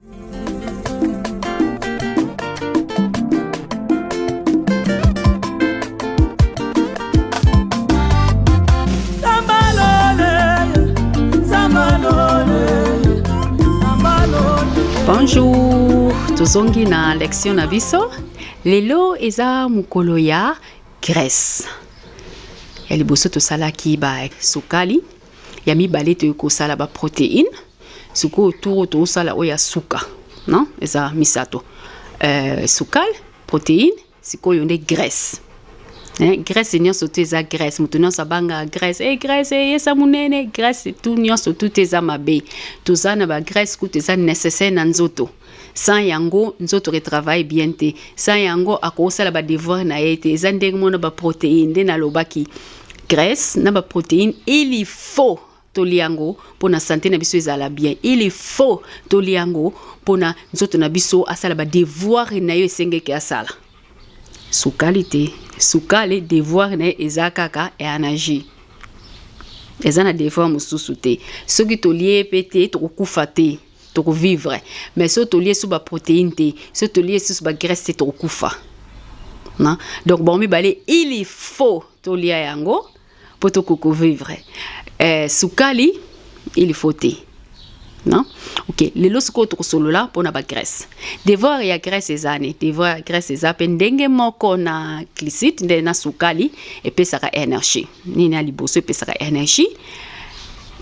Bonjour, tozongi na lection na biso. Lelo eza mokolo ya Grèce. Ya liboso tosalaki ba sukali, ya mibale toye kosala ba protéine sikoyo tour tosala oyo ya suka non eza misato euh, sukal protéine sikoyo nde graisse eh, graisse nyonso tu eza graisse moto nyonso abanga graisse e eh, graisse eyesa eh, monene graisse tu nyonso tu te eza mabe toza na bagraisse kutu eza nécessaire na nzoto sans yango nzoto ke travaille bien te sans yango akosala ba devoir na ye te eza ndenge mona ba protéine nde nalobaki graisse na ba protéine il faut tolia yango mpo na sante na biso ezala bien il faut tolia yango mpo na nzoto na biso asala ba devoir na yo esengeki asala sukali te sukali devoir na ye eza kaka energie eza na devoir mosusu te soki tolie mpe te tokokufa te toko vivre mais so tolie su ba protéine te so tolie susu ba graisse te tokokufa na donc bango mibale il faut tolia yango mpo tokoki vivre eh, sukali il faut te non ok lelo sikoyo tokosolola mpona bagrèce devoir ya grèce eza ne devoir ya grèce eza mpe ndenge moko na glicite nde na sukali epesaka energie nini ya liboso epesaka energie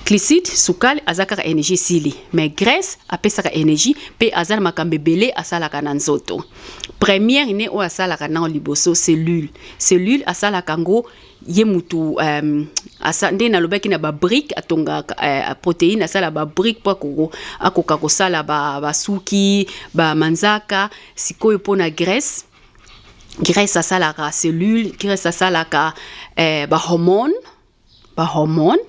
glycide sukali aza kaka energie esili mais graisse apesaka energie mpe aza na makambo ebele asalaka na nzoto première ne oyo asalaka nao liboso cellule cellule asalaka yango ye mutu um, asa, nde nalobaki na babrike atongaka uh, eh, proteine asala babrike mpo akoko akoka kosala basuki ba bamanzaka sikoyo mpo na graisse graisse asalaka cellule graisse asalaka eh, bahormone bahormone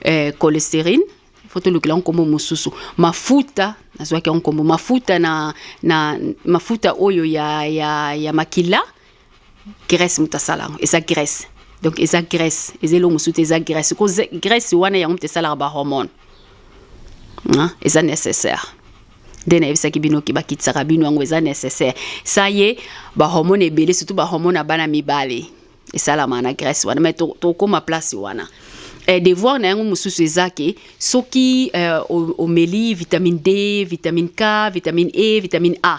eh, cholesterine fo tolukela yango nkombo mosusu mafuta nazwaki yango nkombo mafuta na, na mafuta oyo ya, ya, ya makila graisse moto asala yango eza graisse donc eza graisse eza eloko mosusu te eza graisse ko graisse wana yango moto esalaka bahormone eza nécessaire nde nayebisaki bino ke bakitisaka bino yango eza necessaire sa ye bahormone ebele surtout bahormone ya bana mibale esalama na grèce wana mai tokóma to place wana eh, devoir na yango mosusu eza ke soki eh, omeli vitamine d vitamine k vitamine e vitamine a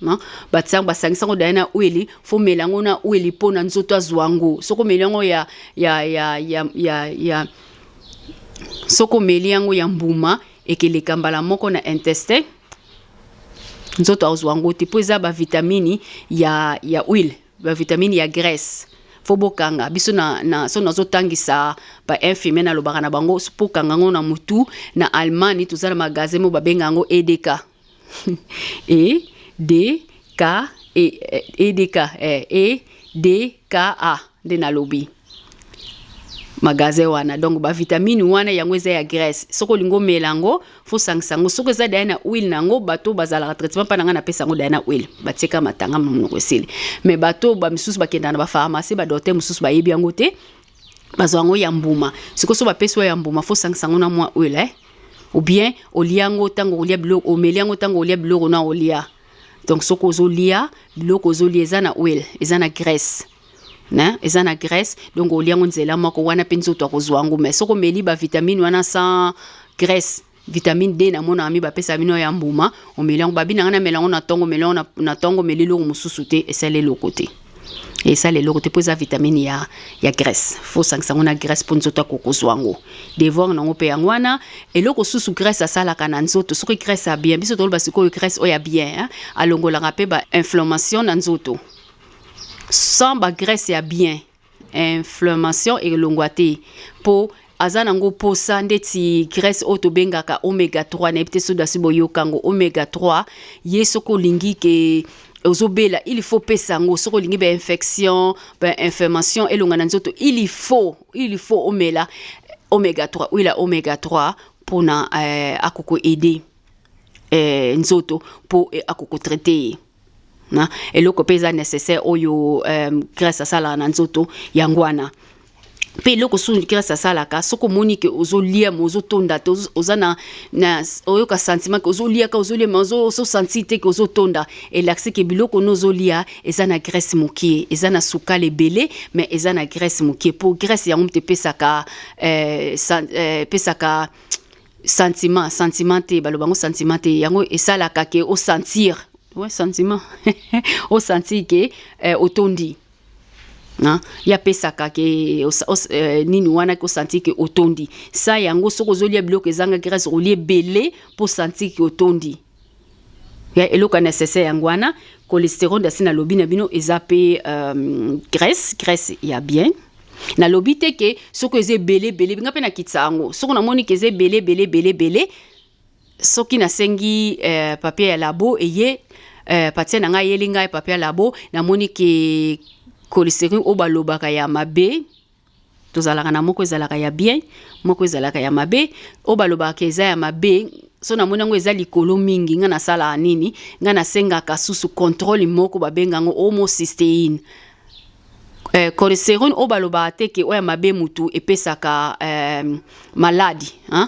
non batisango basangisango daya na ueli fo mela yango na ueli mpo na nzoto azwa yango soko meli yango ya ya ya ya ya, ya soko meli yango ya mbuma ekeleka mbala moko na intestin nzoto azwa yango te mpo eza bavitamini ya ya huile bavitamini ya graisse fo bokanga biso na, na so nazotangisa bainfirmier nalobaka na bango fo bokanga yango na motu na allemagne toza na magasin mo babenga yango edk e d k e, e, e d k e, e d k a nde nalobi magasin wana donc bavitamine wana yango eza ya graisse soki olingi omela yango fosangisa yango soki eza daya na huile na yango bato bazalaka traitement mpa na ngai napesa yango daya na huile batieka matanga monoko esili mais bato bamisusu bakendaka na bapharmacie badokter mosusu bayebi yango te bazwa yango ya mbuma sikoyo so bapesi yo ya mbuma fo osangisa yango na mwa oil eh? ou bien olia yango ntango olia biloko omeli yango ntango olia biloko na olia donc soki ozolia biloko ozolia eza na oil eza na graisse na eza na graisse donc olia yango nzela moko wana mpe nzoto akozwa yango mai soki omeli bavitamine wana sans graisse vitamine d namonaka mi bapesaka bino ya mbuma omeli yango babi na ngai namela yango na ntongo omeli yango na ntongo omeli eloko mosusu te esali eloko te esala eloko te mpo eza vitamine ya, ya graisse fosangisa yango na graisse mpo nzoto akokozwa yango devoir na yango mpe yango wana eloko susu graisse asalaka na nzoto soki graisse ya bien biso toloba sikoyo graisse oyo ya bien alongolaka mpe bainflammation na nzoto sans bagraisse ya bien inflammation elongwa te mpo aza nango posa ndeti graisse oyo tobengaka omega 3 nayebi te soki dasi boyoka yango omega 3 ye soki olingi ke ozobela il faut pesa yango soki olingi bainfection bainflammation elonga na nzoto il faut il faut omela omega 3 huile ya omega 3 mpona eh, akokoaide eh, nzoto mpo eh, akokotraite ye na eloko mpe eza nécessaire oyo euh, grace asalaka na nzoto yango wana mpe eloko susu grace asalaka soki omoni ke ozolia ma ozotonda te oza na, na oyoka sentiment ke ozolia ka ozolia ma ozosanti te ke ozotonda elakisi ke biloko no ozolia eza na grace mokie eza na sukali ebele mais eza na grace mokie mpo grace yango mpe epesaka euh, euh, epesaka euh, sentiment sentiment te baloba yango sentiment te yango esalaka ke osentir ouais, sentiment osentir ke eh, otondi ye apesaka ke eh, nini wana ke osentir ke otondi sa yango soki ozolia biloko ezanga grâce olie ebele mpo osentir ke otondi ya eloko ya necessaire yango wana cholesterol asi nalobi na bino eza mpe euh, graisse graisse ya bien nalobi te ke soki eza ebele ebele nga mpe nakitisa yango soki namoni ke eza ebele ebele ebele ebele soki nasengi euh, papier ya labo eye euh, patie na ngai ayeli ngai papier ya labo namoni ke cholesterol oyo balobaka ya mabe tozalaka na moko ezalaka ya bien moko ezalaka ya mabe oyo balobaka eza ya mabe so namoni yango eza likolo mingi ngai nasalaka nini ngai nasengaka susu controle moko babenga yango homocysteine eh, cholesterol oyo balobaka te ke oyo ya mabe motu epesaka eh, maladi hein?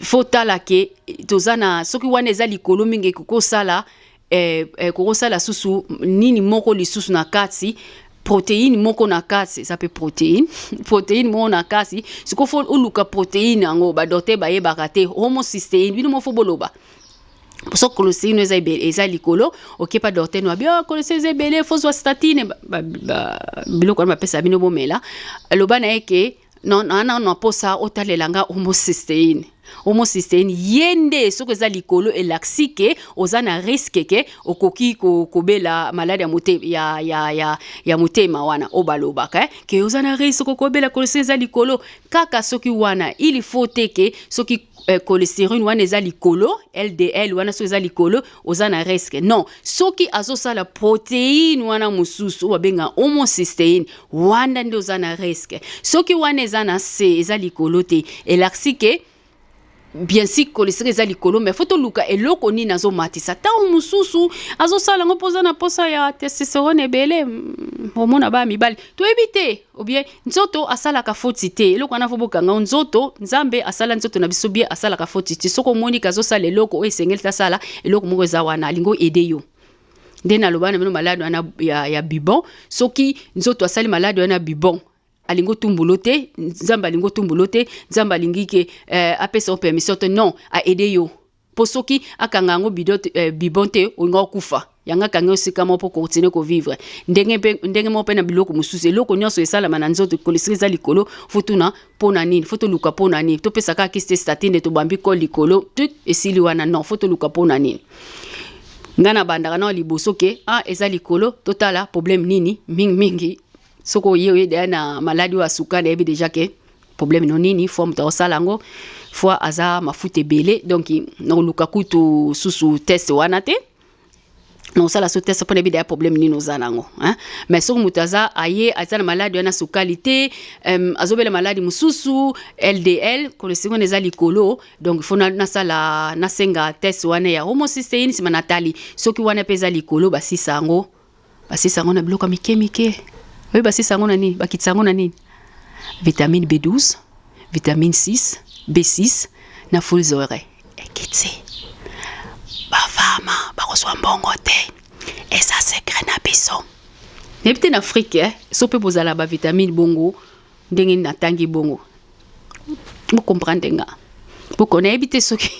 fo tala ke toza na soki wana eza likolo mingi ekokosala eh, eh, kokosala susu nini moko lisusu na kati protéine moko na kati eza mpe protéine protéine moko na kati sikoyo fo oluka protéine yango badoktere bayebaka te homocysteine bino moko fo boloba so kolosei no eza ebele eza likolo okepa dorte no abi oh, kolosei eza ebele fozwa statine biloko wana bapesa bino bomela loba na ye ke non non non non posa otalela nga homocysteine homocysteine ye nde soki eza likolo elakisi ke oza na riske ke okoki kobela maladi ya, mote, ya, ya, ya, ya motema wana oyo balobaka eh? ke oza na riske okobela kolesi eza likolo kaka soki wana il faut te ke soki euh, cholesterol wana eza likolo ldl wana soki eza likolo oza na risque non soki azosala protéine wana mosusu oyo babenga homocysteine wana nde oza na risque soki wana eza na se eza likolo te elakisi ke bien si cholesterol eza likolo mais fo toluka eloko nini azomatisa ntango mosusu azosala yango mpo oza na mposa ya testosterone ebele mm, omona baya mibali toyebi te ou bien nzoto asalaka foti te eloko wana fo bokanga o nzoto nzambe asala nzoto na biso bie asalaka foti te soki omoni kazosala eloko oyo esengeli tasala eloko moko eza wana alingi oede yo nde naloba na bino maladi wana ya, ya bibon soki nzoto asali maladi wana ya bibon alingi otumbulo te nzambe alingi otumbulo te nzambe alingi ke eh, apesa yo permission te non aede yo mpo soki akanga yango eh, bibon te olinga okufa yango akangi osika moko mpo continue kovivre ndenge mpe ndenge moko mpe na biloko mosusu eloko nyonso esalama na nzoto kolesili eza likolo fotuna mpo na nini fo toluka mpo na nini topesa kaka kisi te statine tobambi kol likolo tut esili wana non fo toluka mpo na nini ngai nabandaka nao liboso ke a ah, eza likolo totala problème nini mingimingi soki oye oye deya na maladi oyo asuka nayebi deja ke problème no nini fo moto akosala yango fo aza mafuta ebele donc nakoluka kutu susu test wana te nakosala so test mpo nayebi deya problème nini oza na yango mais soki moto aza aye aza na maladi wana sukali te um, azobela maladi mosusu ldl kolesiko wana eza likolo donc fo nasala nasenga test wana ya homocysteine nsima natali soki wana mpe eza likolo basisa yango Basisa yango na biloko ya mike mike. Oyebi basisa yango na nini? Bakitisa yango na nini? Vitamine B12, vitamine 6, B6 na fools ore ekiti. Bafama bakozwa mbongo te, eza sekre na biso. Nayebi te na Afrike eh? so mpe bozala bavitamine bongo ndenge natangi bongo bokomprendre nga boko nayebi te soki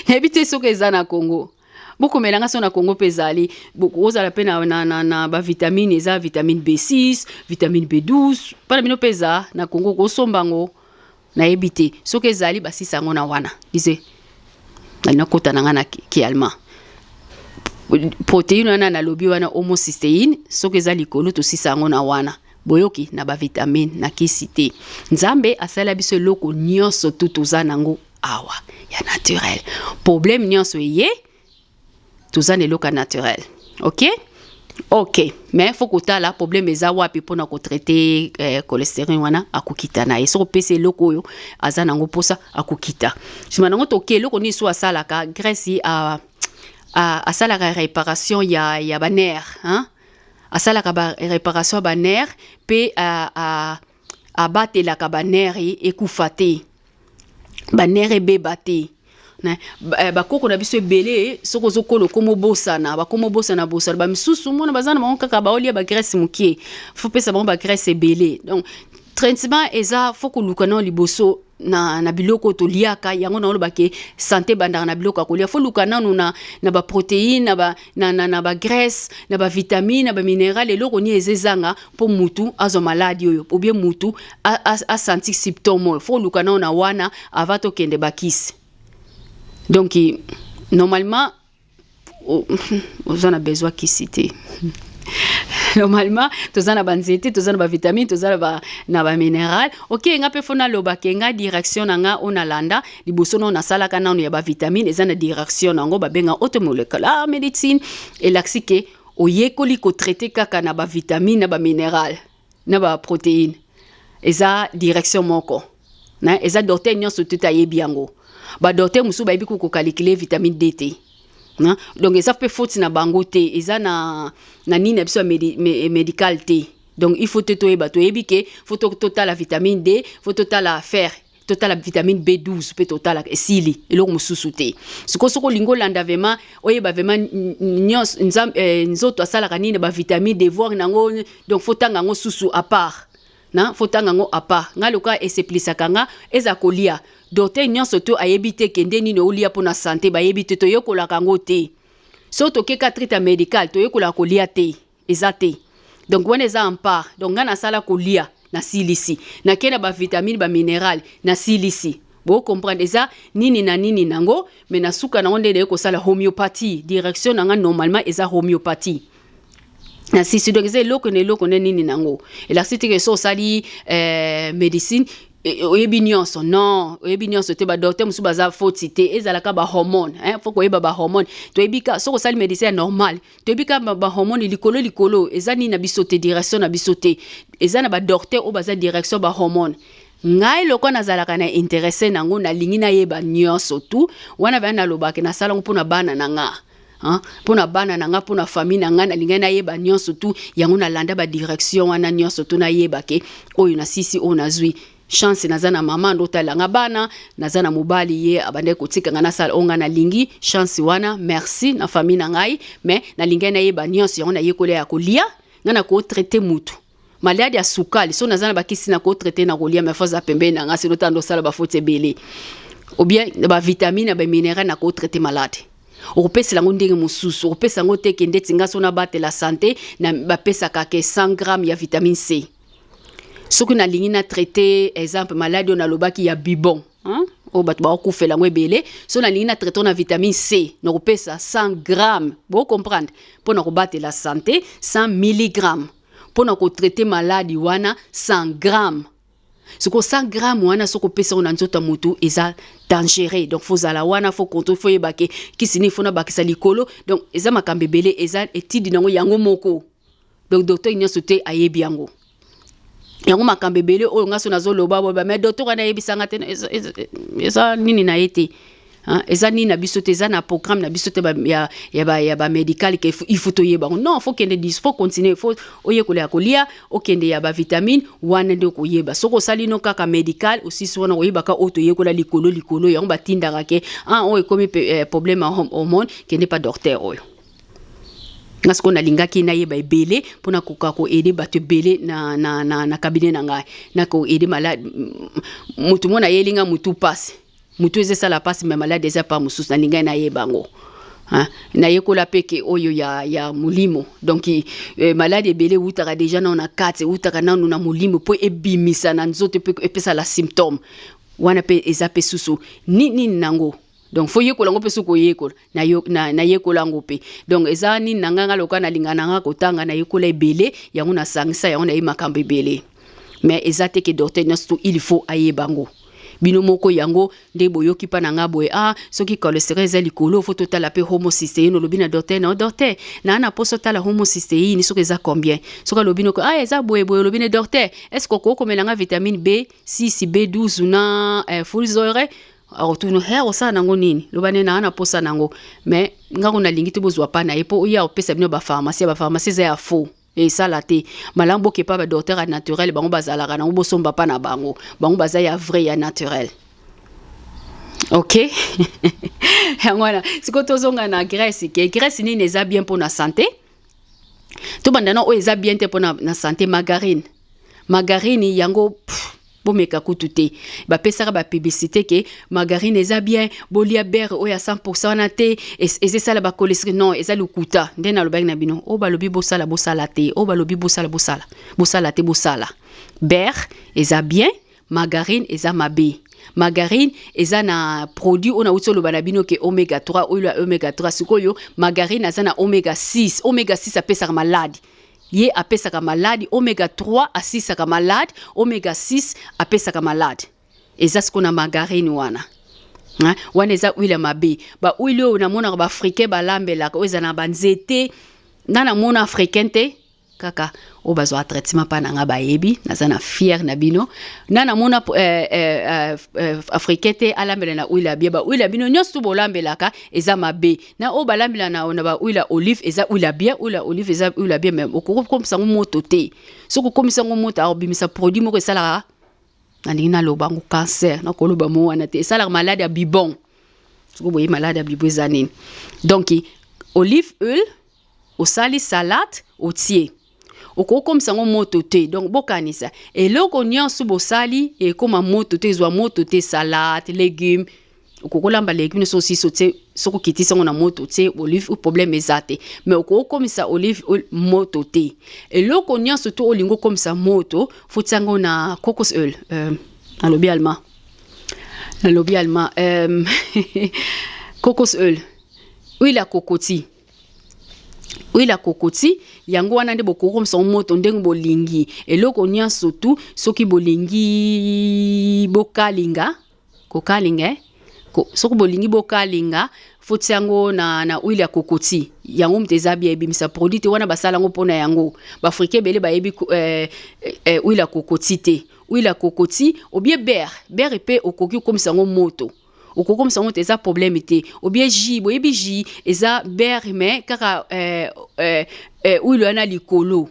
nayebi te soki eza na Congo bokomela nga so na congo mpe ezali ozala mpe na, na, na, na bavitamine eza vitamine b6 vitamine b12 mpo na bino mpe eza na congo kosomba yango nayebi te soki ezali basisa yango na wana ise nakota na ngai na kialma proteine wana nalobi wana homocysteine soki eza likolo tosisa yango na wana boyoki na bavitamine na kisi te nzambe asala biso eloko nyonso tu toza nango awa ya naturel problème nyonso eye toza na eloko ya naturel ok ok mais fo kotala problème eza wapi mpona kotraite eh, cholestérine wana akokita na ye soki opesi eloko oyo aza nango mposa akokita nsima nango toke eloko nini so asalaka grèce a, a, asalaka réparation ya, ya banere hein? asalaka ba réparation ya banere mpe a, a, abatelaka banere ekufa te banere ebeba te Eh, bakoko na biso ebele soki ozokola okoma obosana bakoma obosana bosana bamisusu mona baza na bango kaka baolia bagrèce moke fopesa bango bagrèce ebele donc traitement eza fo koluka nao liboso na, na biloko oyo toliaka yango naoloba ke sante ebandaka na biloko ya kolia fo luka nano na, na baproteine na, ba, na, na, na bagraisse na bavitamine na baminerale eloko nini eza ezanga mpo mutu azwa maladi oyo obie mutu asanti symptome oyo fo luka nano na wana ava tokende bakisi donk normalement oza na besoin kisi te normalement toza na banzete toza na bavitamine toza na bamineral oke nga mpe fo naloba ke nga direction na nga oyo nalanda liboso nao nasalaka nano ya bavitamine eza na direction na yango babenga automolecular médecine elakisi ke oyekoli kotraite kaka na bavitamine na bamineral na baproteine eza direction moko na eza docteur nyonso te ayebi yango ba docteur mosusu bayebi ko calculer vitamine D te na donc eza mpe faute na bango te eza na na nini na biso ya medi, me, medical te donc il faut te toyeba toyebi ke fo totala vitamine D fo totala fer totala vitamine b12 mpe totala esili eloko mosusu te sikoyo soki olingi olanda vraimen oyeba vraimen nyonso eh, nzoto asalaka nini bavitamine devoir na yango donc fotanga yango susu apart na faut tanga ngo apa nga loka eseplisa kanga eza kolia docteur nyonso to ayebi te kende nini olia mpo na sante bayebi te toyekolaka yango te so tokeka trita medical toyekolaka kolia te eza te donc wana eza ampar donc ngai nasala kolia nasilisi nakei na bavitamine bamineral nasilisi bocomprendre eza nini na nini nango me na suka nango nde naye kosala homéopathie direction na ngai normalement eza homéopathie na sisi donc eza eloko na eloko nde nini nango elakisi teke so osali eh, médecine eh, oyebi nyonso non oyebi nyonso te badokter mosusu baza foti te ezalaka bahormone eh, fo koyeba bahormone toyebi ka soki osali médecin ya normal toyebi ka bahormone likolo likolo eza nini na biso te direction na biso te eza na badokter oyo baza direction bahormone ngai loko nazalaka na interesse nango nalingi nayeba nyonso tu wana vaya nalobaka nasalango mpo na bana na ngai Hein? mpo na bana na ngai mpo na famille na ngai nalingaki nayeba nyonso tu yango nalanda badirection wana nyonso tu nayeba ke oyo nasisi oyo nazwi chance naza na mama ndo otalelanga bana naza na mobali ye abandaki kotika ngai nasala oyo ngai nalingi chance wana merci na famille na ngai mais nalingaki nayeba nyonso yango nayekola ya kolia ngai nakotraite mutu maladi ya sukali so naza na bakisi na kotraite na kolia mai faza pembeni na nga sino tanda osala bafoti ebele obien bavitamine ya bamineral na kotraite maladi okopesela yango ndenge mosusu okopesa yango te kende ti nga so nabatela sante bapesaka ke 100 gramme ya vitamine c soki nalingi na traite exemple maladi oyo nalobaki ya bibon Hein? oyo bato bakokufela yango ebele so nalingi na traite na vitamine c nakopesa 100 gramme bocomprendre mpo na kobatela sante 100 milligramme mpo na kotraite maladi wana 100 gramme soko 100 gramme wana soki opesa yango na nzoto ya motu eza dangereux donc faut zala wana faut contrôle faut yeba ke kisi nini faut nabakisa likolo donc eza makambo ebele eza etidi na yango yango moko donc docteur nyonso te ayebi yango yango makambo ebele oyo ngai so nazoloba boba mais docteur wana ayebisanga te eza nini na ye te eza nini na biso te eza na programme na biso te ya, ya, ba, ya bamédical ke il faut toyeba yango non faut kende dis faut continuer faut oyekola ya kolia okende ya bavitamine wana nde okoyeba soki osali no kaka médical osisi wana koyebaka oyo toyekola likolo likolo yango batindaka ke ah oyo ekomi eh, problème ya hormone kende pa docteur oyo nga sikoyo nalingaki nayeba ebele mpo nakoka koede bato ebele na, na, na, na kabine na ngai nakoede malade motu mona ayeli ngai motu mpasi motu eza esala mpasi me malade eza pa mosusu nalingaki nayeba yango nayekola mpe ke oyo ya, ya molimo donk e, eh, maladi ebele ewutaka deja nano na kati ewutaka nano na molimo mpo ebimisa na nzoto mpe epesala symptome wana mpe eza mpe susu nini nango donc fo yekola yango mpe soki oyekola nayekola yango mpe donc eza nini na ngai ngai lokola nalinga na ngai kotanga nayekola ebele yango nasangisa yango nayebi makambo ebele mais eza te ke docteur nyonso to il faut ayeba yango bino moko yango nde boyoki mpa na ngai boye ah soki cholesterol eza likolo fo totala mpe homocysteine olobi na docteur na docteur naa na mposo otala homocysteine soki eza combien soki alobi noko ah eza boye boye olobi na docteur est ce que okoki komela ngai vitamine b 6 b 12 na eh, fulzore akotuna he akosala nango nini loba nde naa naposa nango mais nga ngo nalingi te bozwa pa na ye mpo oye akopesa bino bapharmacie bapharmacie eza ya faux esala te malamu bokepa badoktere ya naturel bango bazalaka nango bosomba pa na bango bango baza ya vrai ya naturel ok yango wana sikoyo tozonga na grèce ke grèce nini eza bien mpo na sante tobanda na oyo eza bien te mpo na, na sante margarine margarine yango pff, bomeka kutu te bapesaka bapiblicité ke margarine eza bien bolia bere oyo ya 100 wana te eza esala bakolestre non eza lokuta nde nalobaki na bino oyo balobi bosala bosala te oyo balobi bosala bosala bosala te bosala bere eza bien margarine eza mabe margarine eza na produit oyo nauti oloba na bino ke omega 3 oyo ya omega 3 sikoyo margarine aza na omega 6 omega 6 apesaka maladi ye apesaka maladi omega 3 asisaka maladi omega 6 apesaka maladi eza siko na margarine wana hein? wana eza huile ya mabe bahuile oyo namonaka baafricain balambelaka oyo eza na banzete nga namona africain te kaka oyo bazwaka traitement mpa na nga bayebi naza na fiere na bino na namona eh, eh, eh, eh, africain te alambela na huile ya bie bahuile ya bino nyonso bolambelaka eza mabe na oyo balambela na na ba huile ya olive eza huile ya bien huile ya olive eza huile ya bien mais okoki kokomisa yango moto te soki okomisa yango moto akobimisa produit moko esalaka nalingi naloba yango cancer nakoloba mo wana te esalaka malade ya bibon soki boye malade ya bibon eza nini donc olive huile osali salade otie okoki komisa yango moto te donc bokanisa eloko nyonso bosali ekoma moto te ezwa moto te salade legume okoki kolamba legume nyonso osiso te soki okitisi yango na moto te olive ou problème eza te mais okoki komisa olive moto te eloko nyonso to olingi okomisa moto foti yango na cocos oil euh, nalobi allemand nalobi allemand euh, cocos oil huile ya kokoti huile ya kokoti yango wana nde bokokomisa yango moto ndenge bolingi eloko nyonso tu soki bolingi bokalinga kokalinga eh? Ko, soki bolingi bokalinga foti yango na, na huile ya kokoti yango moto eza bia ebimisa produit te wana basala yango mpo na yango baafrika ebele bayebi eh, eh, huile ya kokoti te huile ya kokoti obie bere bere mpe okoki kokomisa yango moto okokomisa yango te eza problème te obie ji boyebi ji eza bere mais kaka eh, eh, eh, oilo yana likolo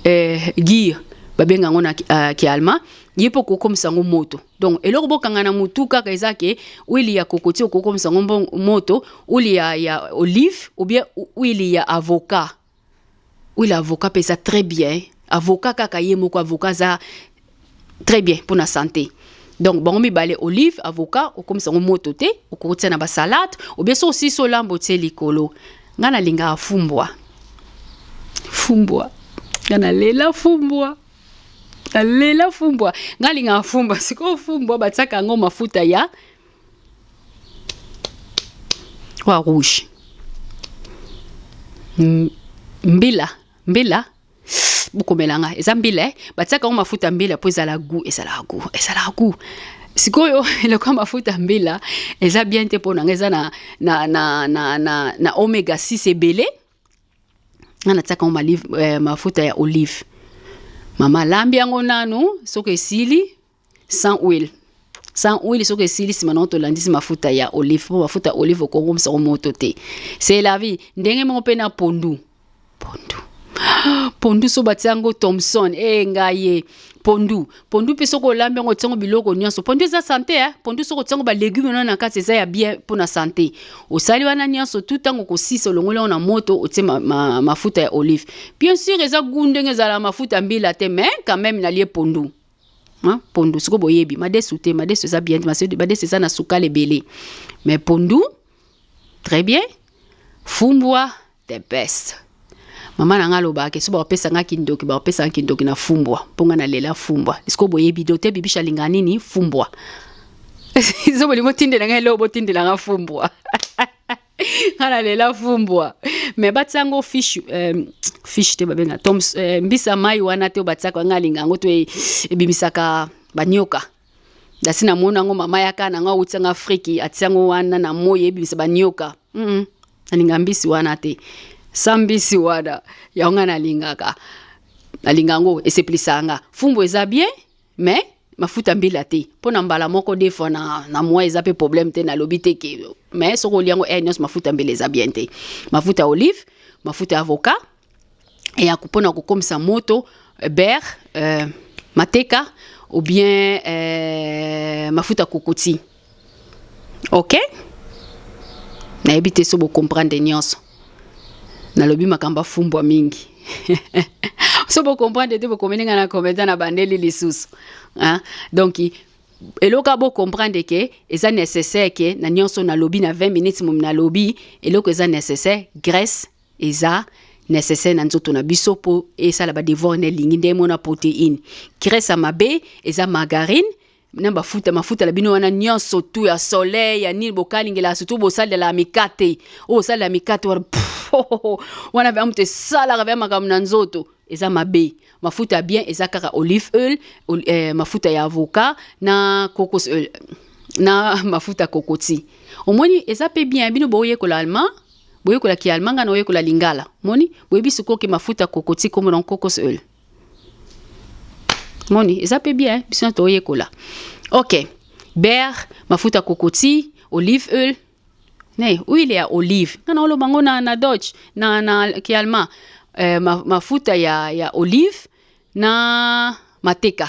eh, gire babenga yango na uh, kialma ye mpe okokomisa yango moto donc eloko bokanga na motu kaka eza ke wili ya kokoti okokomisa yango moto wili ya, ya olive obie wili ya avocat Oui, l'avocat pesa très bien. Avocat kaka ye moko avocat za très bien pour la santé. donc bango mibale olive avocat okomisa yango moto te okokotia na basalade obie so osisi olambo otie likolo ngai nalingaka fumbwa fumbwa ngai nalela fumbwa nalela fumbwa ngai alingaka fumbwa sikoyo fumbwa batiaka yango mafuta ya Croix Rouge. Mbila, mbila bokomela nga eza mbila eh? batiaka yango mafuta mbila mpo ezala gu ezalaka gu ezalaka gu sikoyo eloko ya mafuta mbila eza bien te mpo na nga eza na, na, na, na, na, na omega 6 ebele nga natiaka yango eh, mafuta ya olive mama alambi yango nanu soki esili sans huile sans huile soki esili nsima nango tolandisi mafuta ya olive mpo mafuta ya olive okongomisa yango moto te c'est la vie ndenge moko mpe na pondu pondu pondu so batia yango thomson e eh, ngai ye pondu pondu mpe soki olambi yango otiango biloko nyonso pondu eza sante eh? pondu soki otiango balegume wana na kati eza ya bien mpo na sante osali wana nyonso tu ntango okosisa olongoli yango na moto otie ma, ma, mafuta ya olive bien sur eza gu ndenge ezala mafuta mbila te mais quand même nalie pondu hein? pondu sikoyo boyebi madesu te madesu eza bien te madesu eza na sukali ebele mais pondu très bien fumbwa the best mama na ngai alobaka ke so bakopesa ngai kindoki bakopesa ngai kindoki na fumbwa mpo ngai nalela fumbwa sikoyo boyebi dote bibisha alingaka nini fumbwa zo bolingo otindela ngai eloko botindela ngai fumbwa ana lela fumbwa me batia yango fiche euh, fiche te babenga tom euh, mbisa mai wana te oyo batiaka nga alinga yango to e, ebimisaka banioka dasi namoni yango mama yaka na nga awuti yanga afriki atia yango wana na moi ebimisa banioka mm -mm. alinga mbisi wana te sa mbisi wana yango nga nalingaka nalinga yango esepelisa nga fumbu eza bien mais mafuta mbila te mpo na mbala moko de fois na, na moi eza mpe problème te nalobi te ke mais soki olia yango eh, nyonso mafuta mbila eza bien te mafuta ya olive mafuta ya avocat ya mpo na kokomisa moto eh, ber euh, mateka ou bien euh, mafuta kokoti ok nayebi te so bocomprendre nyonso nalobi makambo afumbwa mingi so bocomprendre te bokomeli ngai na komenta na bandeli lisusu donc eloko ya bocomprendre ke eza nécessaire ke na nyonso nalobi na 20 minutes momi nalobi eloko eza nécessaire graisse eza nécessaire na nzoto na biso mpo esala badevoir na elingi nde emona protéine graisse ya mabe eza margarine na bafuta mafuta na bino wana nyonso tu ya soleil ya nini bokalingela surtout bosalela mikate oyo osalela mikate wana wana vya moto esalaka vya makambo na nzoto eza mabe mafuta ya bien eza kaka olive oil eh, mafuta ya avocat na cocos oil na mafuta kokoti omoni eza mpe bien bino boyekola allemand boyekola ki allemand nga na oyekola lingala moni boyebi sikoyo ke mafuta kokoti komona cocos oil moni eza pe bien biso na toyekola ok beurre mafuta kokoti olive oil ne huile ya olive nga naoloba ngo na, na dodge na, na kialma eh, ma, mafuta ya, ya olive na mateka